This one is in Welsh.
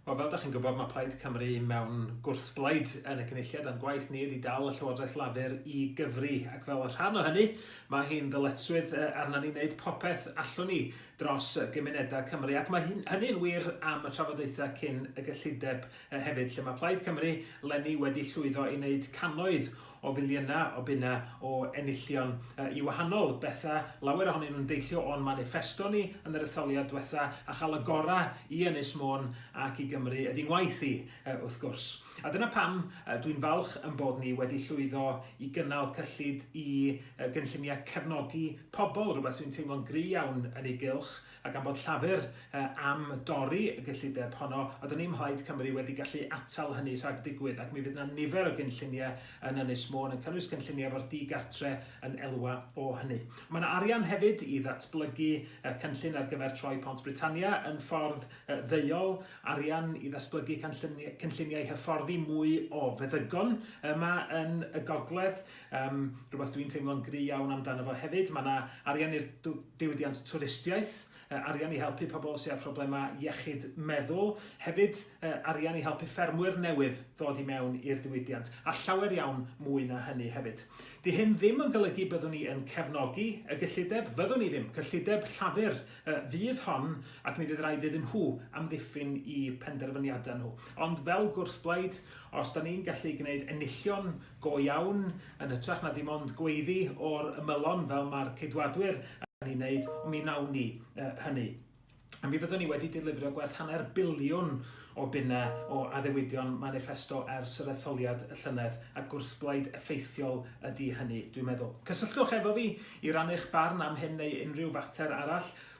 Wel, fel da chi'n gwybod, mae Plaid Cymru mewn gwrthblaid yn y cynulliad a'n gwaith ni ydy dal y Llywodraeth Lafur i gyfri. Ac fel rhan o hynny, mae hi'n ddyletswydd arna ni wneud popeth allwn ni dros gymunedau Cymru. Ac mae hynny'n wir am y trafodaethau cyn y gyllideb hefyd, lle mae Plaid Cymru lenni wedi llwyddo i wneud canoedd o filiynau o bunnau o enillion i wahanol bethau, lawer ohonyn nhw'n deillio o'n maniffesto ni yn yr etholiad dwetha, a chael y gorau i Ynys Môn ac i Gymru ydy ngwaith i, wrth gwrs. A dyna pam dwi'n falch yn bod ni wedi llwyddo i gynnal cyllid i gynlluniau cefnogi pobl, rhywbeth dwi'n teimlo'n gry' iawn yn ei gylch, A gan bod Llafur am dorri y gyllideb honno, a do'n i'm Mhlaid Cymru wedi gallu atal hynny rhag digwydd, ac mi fydd 'na nifer o gynlluniau yn Ynys Môn, yn cynnwys cynlluniau efo'r di-gartre yn elwa o hynny. Mae 'na arian hefyd i ddatblygu cynllun ar gyfer troi Pont Britannia yn ffordd ddeuol, arian i ddatblygu cynlluniau hyfforddi mwy o feddygon yma yn y gogledd, Yym, rhywbeth dwi'n teimlo'n gry iawn amdano fo hefyd, mae yna arian i'r diwydiant twristiaeth, arian i helpu pobl sydd â phroblemau iechyd meddwl, hefyd arian i helpu ffermwyr newydd ddod i mewn i'r diwydiant, a llawer iawn mwy na hynny hefyd. Di hyn ddim yn golygu byddwn ni yn cefnogi y gyllideb, fyddwn ni ddim, cyllideb Llafur fydd hon ac mi fydd rhaid iddyn nhw amddiffyn i penderfyniadau nhw. Ond fel gwrthblaid, os da ni'n gallu gwneud enillion go iawn, yn hytrach na dim ond gweiddi o'r ymylon fel mae'r Ceidwadwyr yn ei wneud, ond mi wnawn ni uh, hynny. A mi fyddwn ni wedi dilifrio gwerth hanner biliwn o bunnau o addewidion manifesto ers yr etholiad y llynedd, a gwrthblaid effeithiol ydy hynny, dwi'n meddwl. Cysylltwch efo fi i rannu'ch barn am hyn neu unrhyw fater arall.